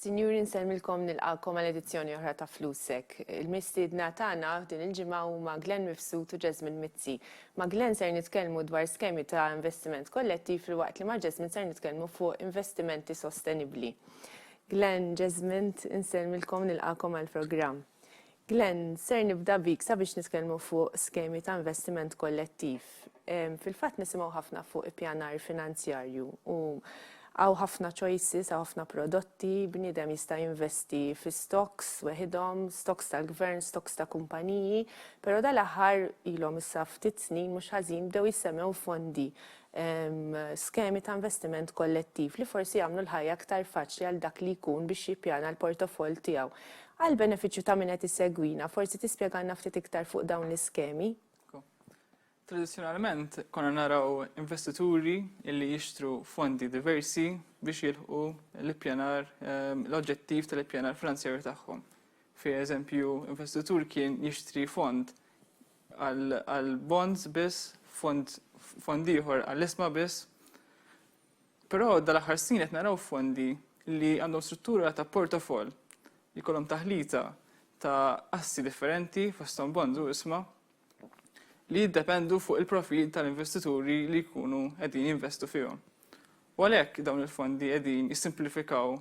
Sinjuri nsellmilkom nilqakom għal edizzjoni oħra ta' Flusek. Il-mistiedna tagħna din il-ġimgħa huma Glenn Mifsud u Jasmine Mizzi. Ma' Glenn ser nitkellmu dwar skemi ta' investiment kollettiv filwaqt li ma' Jasmine ser nitkellmu fuq investimenti sostenibbli. Glenn, Jasmine, nsellmilkom nilqakom għall-programm. Glenn, ser nibda bik sabiex nitkellmu fuq skemi ta' investiment kollettiv. Fil-fatt nisimgħu ħafna fuq ippjanar finanzjarju u hawn ħafna choices, hawn ħafna prodotti, bniedem jista' jinvesti fi stocks weħidhom, stocks tal-gvern, stocks ta' kumpaniji, però dal-aħħar ilhom issa ftit snin mhux ħażin bdew jissemmgħu fondi skemi ta' investiment kollettiv li forsi jagħmlu l-ħajja aktar faċli għal dak li jkun biex jippjana l-portofoll tiegħu. Għall-benefiċċju ta' min qed isegwina, forsi tispjegalna ftit iktar fuq dawn l-iskemi? Tradizzjonalment konna naraw investituri li jixtru fondi diversi biex jilħqu l-ippjanar, ehm, l-oġġettiv tal-ippjanar finanzjarju tagħhom. Fi eżempju, investitur kien jixtri fond għall-bonds biss, fond fond ieħor għall-isma biss. Però dal-aħħar snin qed naraw fondi li għandhom struttura ta' portafoll li kolom taħlita ta' assi differenti fosthom bonds u isma li jiddependu fuq il-profil tal-investituri li jkunu qegħdin jinvestu fihom. U għalhekk dawn il-fondi qegħdin jissimplifikaw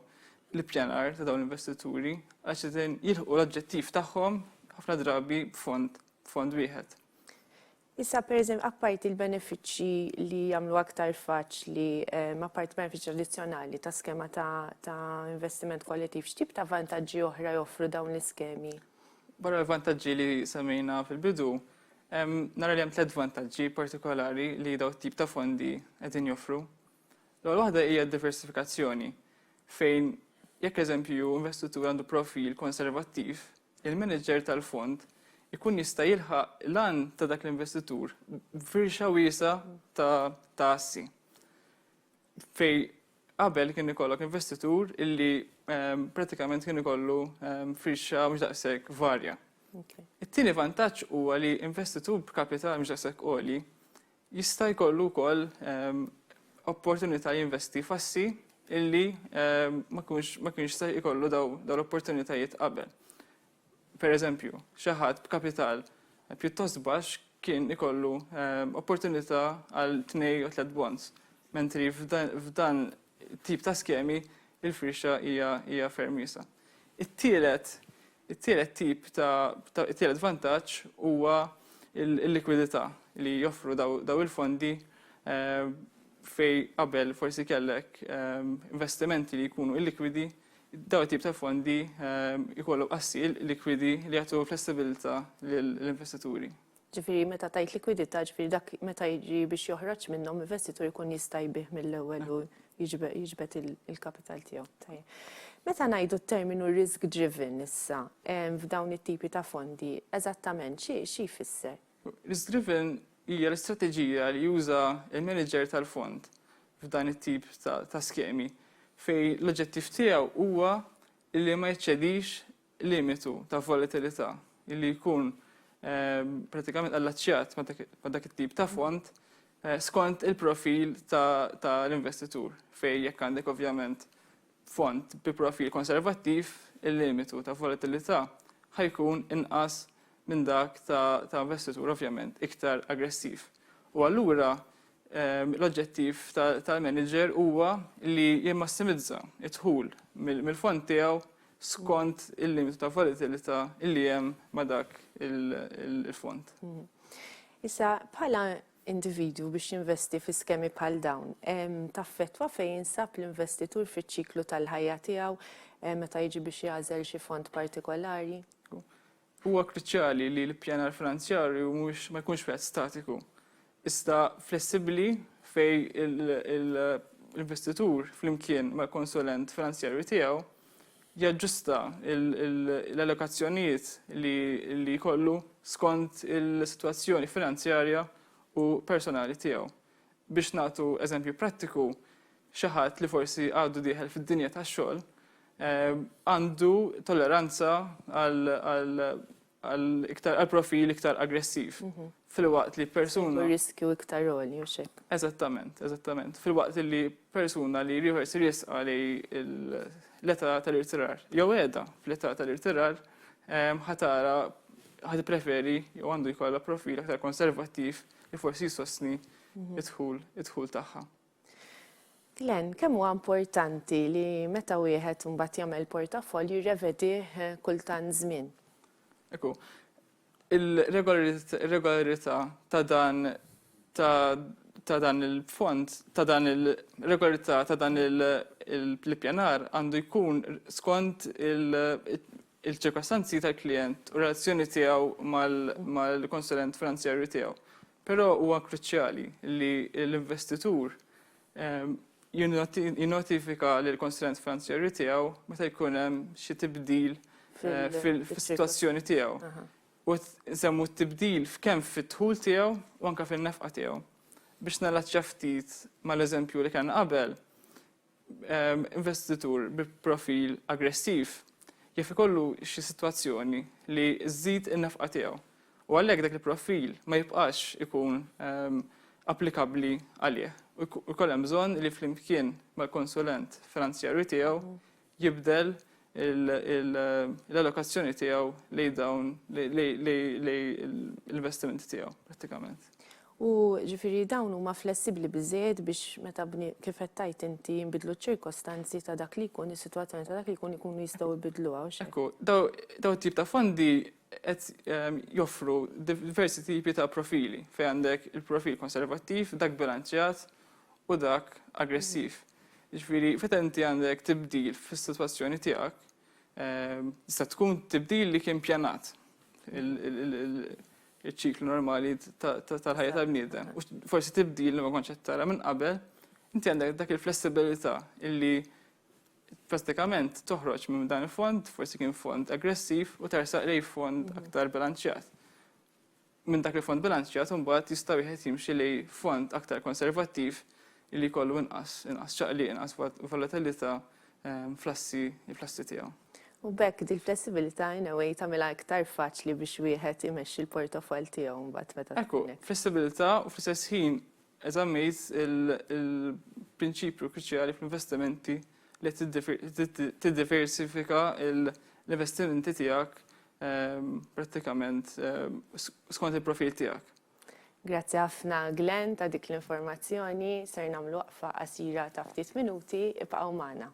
l-ippjanar ta' dawn l-investituri għax qegħdin jilħqu l-oġġettiv tagħhom ħafna drabi b'fond b'fond wieħed. Issa pereżempju apparti l-benefiċċji li jagħmlu aktar faċli, ehm, apparti benefiċċji tradizzjonali ta' skema ta', ta investiment kollettiv, x'tip ta' vantaġġi oħra joffru dawn l-iskemi? Barra l-vantaġġi li semmejna fil-bidu, Nara li hemm tliet vantaġġi partikolari li dawn it-tip ta' fondi qegħdin joffru. L-ewwel waħda hija d-diversifikazzjoni, fejn jekk eżempju investitur għandu profil konservattiv, il-manager tal-fond ikun jista' jilħaq l-għan ta' dak l-investitur b'firxa wiesa ta' assi. Fejn qabel kien ikollok investitur illi pratikament kien ikollu firxa mhux daqshekk varja. It-tieni vantaġġ huwa li investitur b'kapital mhux daqshekk għoli jista' jkollu wkoll opportunità jinvesti f'assi illi ma kienx se jkollu dawn l-opportunitajiet qabel. Pereżempju, xi ħadd b'kapital pjuttost baxx kien ikollu opportunità għal tnej jew tliet bonds, mentri f'dan it-tip ta' skemi l-firxa hija ferm wiesgħa. It-tielet it-tielet tip ta' it-tielet vantaġġ huwa l-likwidità li joffru dawn il-fondi fejn qabel forsi kellek investimenti li jkunu illikwidi Dawn it-tip ta' fondi jkollhom qassil likwidi li jagħtu flessibilità lill-investituri. Ġifieri meta tgħid likwidità, ġifieri dak meta jiġi biex joħroġ minnhom investitur ikun jista' jbigħ mill-ewwel u jiġbed il-kapital tiegħu. Tajjeb. Meta ngħidu t-terminu risk driven issa f'dawn it-tipi ta' fondi, eżattament xi jfisser? Risk-driven hija l-istrateġija li juża l-maniġer tal-fond f'dan it-tip ta' skemi, fejn l-oġġettiv tiegħu huwa li ma jeċċedix limitu ta' volatilità li jkun pratikament allaċċjat ma' dak it-tip ta' fond skont il-profil tal-investitur, fejn jekk għandek ovvjament Fond bi profil konservattiv, il-limitu ta' volatilità ħa jkun inqas minn dak ta' investitur ovvjament iktar aggressiv u allura l-oġġettiv tal-manager huwa li jimmassimizza d-dħul mill-fond tiegħu skont il-limitu ta' volatilità li hemm ma' dak il-fond. Issa, bħala individwu biex jinvesti fi skemi bħal dawn taffettwa fejn jinsab l-investitur fiċ-ċiklu tal-ħajja tiegħu meta jiġi biex jagħżel xi fond partikolari? Huwa kruċjali li l-ippjanar finanzjarju mhux ma jkunx wieħed statiku, iżda flessibbli fejn l-investitur flimkien mal-konsulent finanzjarju tiegħu jaġġusta l-allokazzjonijiet li jkollu skont is-sitwazzjoni finanzjarja u personali tiegħu. Biex nagħtu eżempju prattiku, xi ħadd li forsi għadu dieħel fid-dinja tax-xogħol għandu tolleranza għal għal iktar għal profil iktar aggressiv. Filwaqt li persuna. riskju iktar għoli u xek. Eżattament, eżattament. Filwaqt li persuna li riħor si risqa li l-età tal-irtirar, jew edha fl-età tal-irtirar, ħatara ħad preferi jew għandu jkollha profil aktar konservattiv li forsi jsostni id-dħul id-dħul tagħha. Glenn, kemm huwa importanti li meta wieħed mbagħad jagħmel portafoll jirrevedih kull tant żmien? Ekku, il-regolarità ta' dan ta' dan il-fond, ta' dan il-regolarità ta' dan il-pjanar għandu jkun skont il-ċirkostanzi tal-klient u relazzjoni tiegħu mal-konsulent finanzjarju tiegħu. Però huwa kruċjali li l-investitur jinnotifika lill-konstituent finanzjarju tiegħu meta jkun hemm xi tibdil fis-sitwazzjoni tiegħu. U nsemmu t-tibdil kemm fid-dħul tiegħu u anke fin-nefqa tiegħu. Biex nallacċja ftit mal-eżempju li kellna qabel, investitur bi profil aggressiv jaf ikollu xi sitwazzjoni li żżid in-nefqa tiegħu u għalhekk dak il-profil ma jibqax ikun applikabbli għalih u jkun hemm bżonn li flimkien mal-konsulent finanzjarju tiegħu jibdel l-allokazzjoni tiegħu lejn dawn l-investimenti tiegħu prattikament. U ġifieri dawn huma flessibbli biżżejjed biex meta kif qed tgħid inti jinbidlu ċ-ċirkostanzi ta' dak li jkun is-sitwazzjoni ta' dak li jkun ikunu jistgħu jbiddluha u x'hekk. Ekku, dawn it-tip ta' fondi qed joffru diversi tipi ta' profili fejn għandek il-profil konservattiv, dak bilanċjat, u dak aggressiv. Ġifieri feta inti għandek tibdil fis-sitwazzjoni tiegħek, ehm, tista' tkun tibdil li kien pjanat il-ċiklu normali tal-ħajja tal-bniedem. U forsi tibdil li ma kontx qed tara minn qabel, inti għandek dak il-flessibilità illi pratikament toħroġ minn dan il-fond, forsi kien fond aggressiv u tersaq lej fond aktar bilanċjat. Minn dak il-fond bilanċjat imbagħad jista' wieħed jimxi lejn fond aktar konservattiv li jkollu inqas inqas ċaqliq, inqas volatilità fl-assi fl-assi tiegħu. U b'hekk dil-flessibilità in a way tagħmilha iktar faċli biex wieħed imexxi l-portofoll tiegħu mbagħad meta tkun hekk. Ekku, flessibilità u fl-istess ħin eżammejt il-prinċipju kruċjali fl-investimenti li tiddiversifika l-investimenti tiegħek prattikament skont il-profil tiegħek. Grazzi ħafna Glenn ta' dik l-informazzjoni. Ser nagħmlu waqfa qasira ta' ftit minuti, ibqgħu magħna.